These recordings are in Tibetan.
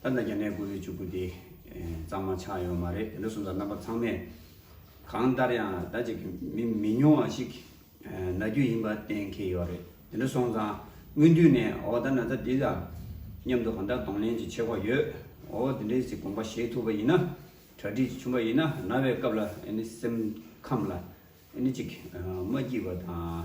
ད་ལྟ་རྒྱ་ནད་དགུ་བཅུ་དགུ་དེ་གཙང་མ་ཆགས་ཡོད་མ་རེད་དེ་འདྲ་སོང་ཙང་རྣམ་པ་ཚང་མས་གང་ལྟར་ཡང་ད་ཅིག་མི་མི་ཉུང་བ་ཞིག་ན་རྒྱུ་ཡིན་པ་གཏན་འཁེལ་ཡོད་རེད་དེ་འདྲ་སོང་ཙང་སྔོན་དུས་ནས་འོ་ད་ན་ཚ་འདི་ལ་མཉམ་དུ་གང་ལྟར་གདོང་ལེན་གྱི་ཆེ་བ་ཡོད་འོ་དེ་འདྲའི་ཚིག་དགོངས་པ་བཞེས་ཐུབ་པ་ཡིན་ན་གྲ་སྒྲིག་བྱུང་བ་ཡིན་ན་ན་བའི་སྐབས་ལ་སེམས་ཁམས་ལ་ཅིག་མ་སྐྱིད་པ་དང།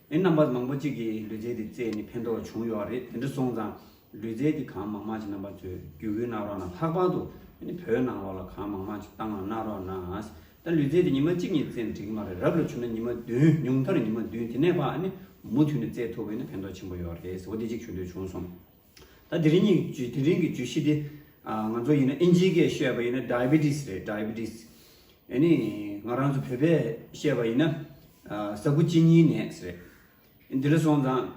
ཨེ་རྣམ་པ་མང་པོ་གཅིག་གིས་ལུས་རྩལ་དེ་རྩེས་ནས་ཕན་ཐོགས་བྱུང་ཡོད་རེད་དེ་འདྲ་སོང་ཙང་ལུས་རྩལ་དེ་གང་མང་མང་ཅིག་རྣམ་པ་ཚོས་རྒྱུ་བོད་ནང་རོགས་ན་ལྷག་པར་དུ་བོད་ནང་རོགས་ལ་གང་མང་མང་ཅིག་བཏང་ལ་གནང་རོགས་ན་ད་ལུས་རྩལ་དེ་ཉི་མ་གཅིག་གཉིས་རྩེ་ན་འགྲིག་གི་མ་རེད་རབ་ལ་ཆུ་ན་ཉི་མ་བདུན་ཉུང་མཐར་ཉི་མ་བདུན་དེ་ནས་བ་མུ་མཐུད་ནས་རྩེ་ཐུབ་བས་ན་ཕན་ཐོགས་ཆེན་པོ་ཡོད་རེད་ཟེར་བ་དེ་གཅིག་ཞུ་འདོད་བྱུང་སོང། ད་དེ་རིང་གི་བརྗོད་དེ་རིང་གི་བརྗོད་གཞི་དེ། ང་ཚོ་ཡིན་ན་ཨིན་ཇིའི་སྐད་བཤད་པ་ཡིན་ན Diabetes རེད Diabetes། ཡེ་ནས་ང་རང་ཚོ་བོད་པས་བཤད་པ་ཡིན་ན། ཟ་ཁུ་གཅིན་སྙིའི་ནད་རེད། འདི་ལ་སོང་ཙང།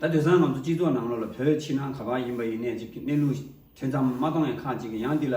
ད་དོན་སང་ང་ཚོ་སྤྱི་ཚོགས་ནང་ལོགས་ལ་བོད་ཕྱི་ནང་ག་པར་ཡིན་པ་ཡིན་ནས་ཅིག་གནས་ལུགས་ཐེ་ཚམ་མ་གཏོང་ཡ་ཁག་ཅིག་ཡང་འདི་ལ་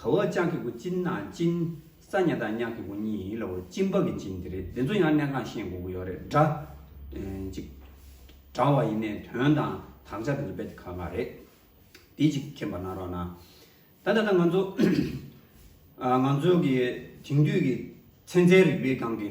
ག་བ་ཅང་གི་གུ་ཅིན་ནང་ཅིན། ས་ཉག་དང་ཉག་གི་གུ་གཉིས་ཡིན་ལ་འོ་ཅིན་པ་གི་ཅིན་དེ་རེད་དེ་ཚོ་ཡང་གནས་ཁང་ཤེས་འགོ་གུ་ཡོག་རེད་འདྲ། ཅིག། འདྲ་བ་ཡིན་ནས་དོན་དང་དག་ཆ་དེ་ཚོ་བེད་ག་ག་རེད། དེ་ཅིག་མཁྱེན་པ་གནང་རོགས་གནང། ད་ད་ད་ང་ཚོ། ང་ཚོ་གི་དེང་དུས་ཀྱི་ཚན་རྩལ་རིག་པའི་སྒང་གི།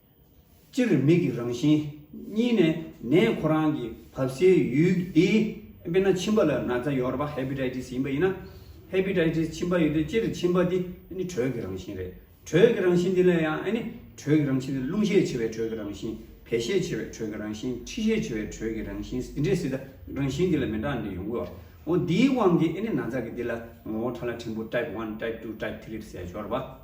སྤྱིར་མིག་གི་རང་བཞིན་གཉིས་ནས་ནད་ཁོ་རང་གི་བབས་སའི་ཡུལ་དེ་དཔེར་ན་མཆིན་པ་ལ་ན་ཚ་ཡོར་བ Hepatitis ཡིན་པ་ཡིན་ན། Hepatitis མཆིན་པ་ཡོད་དུས་སྤྱིར་མཆིན་པ་དེ་དྲོད་ཀྱི་རང་བཞིན་རེད། དྲོད་ཀྱི་རང་བཞིན་དེ་ལ་ཡང་དྲོད་ཀྱི་རང་བཞིན་དེ་རླུང་ཤས་ཆེ་བའི་དྲོད་ཀྱི་རང་བཞིན་བད་ཤས་ཆེ་བའི་དྲོད་ཀྱི་རང་བཞིན་མཁྲིས་ཤས་ཆེ་བའི་དྲོད་ཀྱི་རང་བཞིན་སིད་འདྲེ་སིད་རང་བཞིན་དེ་ལ་མི་འདྲ་འདྲ་ཡོང་གི་ཡོད། འོ་དེའི་དབང་གིས་ན་ཚ་གི་དེ་ལ་ངོ་བོ་ཕྲ་ལ་ཕྲན་བུ Type one Type two Type three ཟས་སྦྱོར་བ།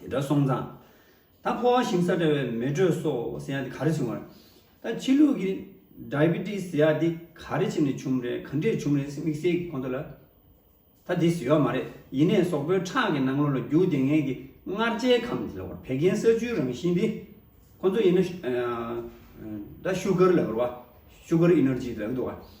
དེ་འདྲ་སོང་ཙང། ད་ཕོ་བ་ཞིམ་ས་འདྲ་བའི་མེ་དྲོད་སོགས་ཟེར་ཡ་དེ་ག་རེ་བྱུང་བ་རེད། ད་ཕྱི་ལུགས་ཀྱི། Diabetes། ཟེར་ཡ་དེ་ག་རེ་ཆེམས་ནས་བྱུང་རེད་ག་འདྲས་བྱུང་རེད་དམིགས་བསལ་གྱི་ཁོང་ཚོ་ལ། ད་དེ་ཟེར་བ་མ་རེད་ཡིན་ནས་ཟོག་པོའི་ཁྲག་གི་ནང་ལོ་ལ་རྒྱུག་བདེ་ངན་གྱི་མངར་ཆའི་ཁམས་དེ་ལ་བར་བད་ཀན་ས་ཆུའི་རང་བཞིན་དེ། ཁོང་ཚོ་ཡིན་ན། ད Sugar ལ་བར་བ། Sugar Energy། དེ་ལ་གི་འདུག་བ།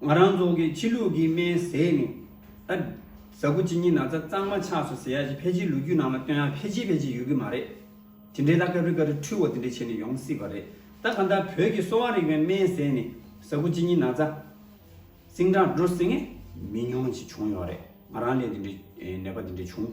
ང་རང་ཚོ་གི་ཕྱི་ལུགས་ཀྱི་སྨན་ཟས་ནི། ད་གཟའ་ཁུ་ཅི་ཉིན་ན་ཚ་གཙང་མ་ཆགས་སོ་ཟེར་ཡ་ཞིག་ཕལ་ཆེར་ལུ་རྒྱུད་ནང་ལ་བཏོན་ཡ་ཕལ་ཆེར་ཕལ་ཆེར་ཡོད་ཀྱི་མ་རེད། དེ་འདྲའི་ལ་ཀ་རུས་ཀ་རུས་འཁྲུལ་བ་དེ་འདྲ་བྱས་ནས་ཡོང་སྲིད་པ་རེད། ད་གང་ལྟར་བོད་ཀྱི་གསོ་བ་རིག་པའི་སྨན་ཟས་ནི་གཟའ་ཁུ་ཅི་ཉིན་ན་ཚ། སིང་སྒྲ་འགྲོ་སྲིད་ངེས། མི་ཉུང་ཅིག་བྱུང་ཡོད་རེད། ང་རང་ལས་དེ་འདྲའི་ནད་པ་དེ་འདྲ་བྱུང།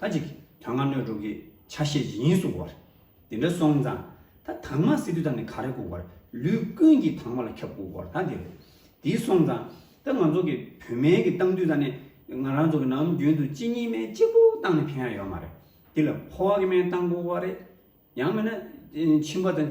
ད་ཅིག་དོན་ལྔ་སྣོད་དྲུག་གི་ཆ་ཤས་ཇི་སྙེད་གསུངས་བར། དེ་འདྲ་སོང་ཙང་ད་དངས་མ་སི་ཏུ་ད་ནི་ག་རེ་བཀུག་བར་ལུས་ཀུན་གྱི་དངས་མ་ལ་ཁྱབ་བཀུག་བར་ད་འདི་རེད། དེ་སོང་ཙང་ད་ང་ཚོ་གི་བུད་མེད་ཀྱི་སྟངས་དུས་ད་ནི་ང་རང་ཚོ་གི་ནམ་རྒྱུན་དུ་གཅིག་གཉིས་མའི་གཅིག་པོ་སྟངས་ནི་ཕན་ཡ་ཡོད་མ་རེད། དེ་ལ་ཕོ་བ་གི་མའི་སྟངས་བཀུག་བར་རེད། ཡང་མེད་ན་མཆིན་པ་དང།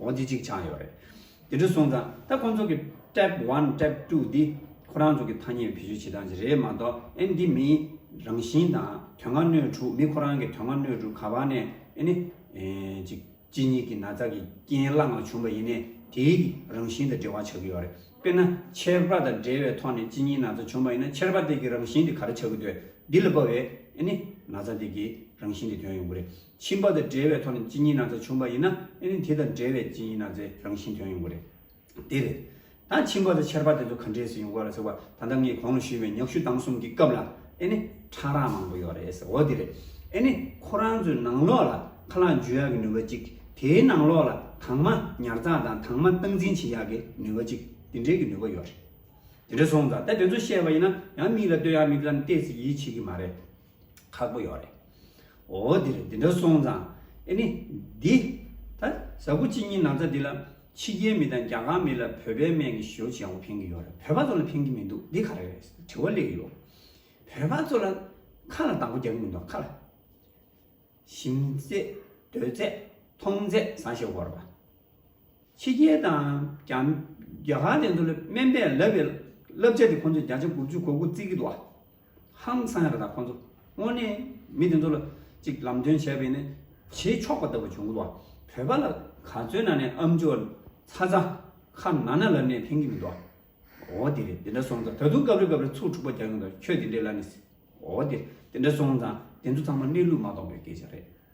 འོ་འདི་གཅིག་ཆགས་ཡོད་རེད། དེ་འདྲ་སོང་ཙང་ད་ཁོང་ཚོ་གི Tab one Tab two འདི་ཁོ་རང་ཚོ་གི་ཐ་སྙད་བེད་སྤྱོད་བྱེད་སྟངས་ཅིག་རེད་མ་གཏོགས་ཨེ་འདི་མིའི་རང་བཞིན་དང་དོན་ལྔ་སྣོད་དྲུག་མི་ཁོ་རང་གི་དོན་ལྔ་སྣོད་དྲུག་ག་བ་ནས་ཨེ་ནི་ཅིག་གཅིག་ཉིད་ཀྱི་ན་ཚ་གི་རྐྱེན་བླ་ངང་བྱུང་བ་ཡིན་ནས་དེའི་གི་རང་བཞིན་དང་འབྲེལ་བ་ཆགས་ཀྱི་ཡོད་རེད་དཔེར་ན་ཁྱད་པར་དང་འབྲེལ་བའི་ཐོག་ནས་གཅིག་ཉིད་ན་ཚ་བྱུང་བ་ཡིན་ན་ཁྱད་པར་དེ་གི་རང་བཞིན་དེ་ག་རེ་ཆགས་ཀྱི་འདོད་འདི་ལ་བབ་བས་ཨེ་ནི་ན་ཚ་དེ་གི་རང་བཞིན་དེ་དོན་ཡོང་གི་རེད། ཕྱིན་པ་དང་བྲལ་བའི་ཐོག་ནས་ཅི་ཉིད་ན་ཚ་བྱུང་བ་ཡིན་ན་ཨེ་ནི་དེ་དང་བྲལ་བའི་ཅི་ཉིད་ན་ཚའི་རང་བཞིན་དོན་ཡོང་གི་རེད། དེ་རེད། ད་ཕྱིན་པ་དང་ཆེར་པ་དེ་ཚོ་ག་འདྲའི་སུ་ཡོང་གི་རེད་ཟེར་བ་ད་ལྟ་ངས་གོང་ལ་ཞུས་པའི་ཉག་གཞུ་བཏང་གསུམ་གྱི་སྐབས་ལ་ཨེ་ནི་ཕྲ་རགས་མང་པོ་ཡོད་རེད་ཟེར་བ་དེ་རེད། ཨེ་ནི་ཁོ་རང་ཚོའི་ནང་ལོགས་ལ་ཁ་ལག་འཇུ་ཡག་གི་ནུས་པ་ཅིག་དེའི་ནང་ལོགས་ལ་དྭངས་མ་ཉར་ཚགས་དང་དྭངས་མ་སྟངས་འཛིན་བྱེད་ཡག་གི་ནུས་པ་ཅིག་དེ་འདྲའི་གི་ནུས་པ་ཡོད་རེད། དེ་འདྲ་སོང་ཙང་ད་དེ་ཚོ་བཤད་པ་ཡིན་ན་ཡང་མིག་ལ་ལྟོས་ཡག་མིག་ལམ་བལྟས་ཚེ་ཡིད་ཆེས་གི་མ་རེད། ཁག་པོ་ཡོད་རེད། འོ་དེ་རེད་དེ་འདྲ་སོང་ཙང་ཨེ་ནི། འདི། ད་གཟའ་ཕུ་གཅིག་གཉིས་ན་ཚ་འདི་ལ། ཕྱི་རྒྱལ་མི་དང་རྒྱ་གར་མི་ལ་བོད་པའི་སྨན་གྱི་ཞོ་བྱས་འོ་ཕན་གྱི་ཡོད་རེད་བོད་པ་ཚོ་ལ་ཕན་གྱི་མི་འདུག་འདི་ག་རེ་རེད་དྲི་བ་གླེགས་ཡོད། བོད་པ་ཚོ་ལ། ཁ་ལ་དང་པོ་རྒྱག་གི་མི་འདུག་ཁ་ལ། ཞིམ་ཚད། དོད་ཚད། མཐོང་ཚད་བཟང་ཞེས་བོར་བ། ཕྱི་རྒྱལ་དང། རྒྱ་གར་དེ་ཚོ་ལ་སྨན་པས་ལབ་པའི་བསླབ་བྱ་དེ་ཁོ་ཚོས་བརྒྱ་ཆ་དགུ་བཅུ་གོ་དགུ་བརྩི་གི་འདུག་ཨ། ཧང་སང་རེད་ད་ཁོ་ཚོ་དངོས་གནས་མི་དེ་ཚོ་ལ་ཅིག་ལམ་སྟོན་བྱས་པས་ནི་བྱེད་ཆོག་པ་ལྟ་བུ་བྱུང་གི་འདུག་བོད་པ་ལ་ག་ཚོད་ན་ནས་ཨམ་ཅོ་ཚ་ཚ་ཁ་ན་ན་ལབ་ནས་ཕན་གི་མི་འདུག་ཨ། འོ་དེ་རེད་དེ་འདྲ་སོང་ཙང་ད་དུང་སྐབས་རེ་སྐབས་རེ་ཚུར་འཁྲུག་པ་རྒྱག་གི་འདུག་ཁྱོད་དེ་འདྲའི་ལ་ནི། འོ་དེ་དེ་འདྲ་སོང་ཙང་དེ་ཚོ་ཚང་མ་གནས་ལུགས་མ་རྟོགས་པའི་སྐད་ཆ་རེད།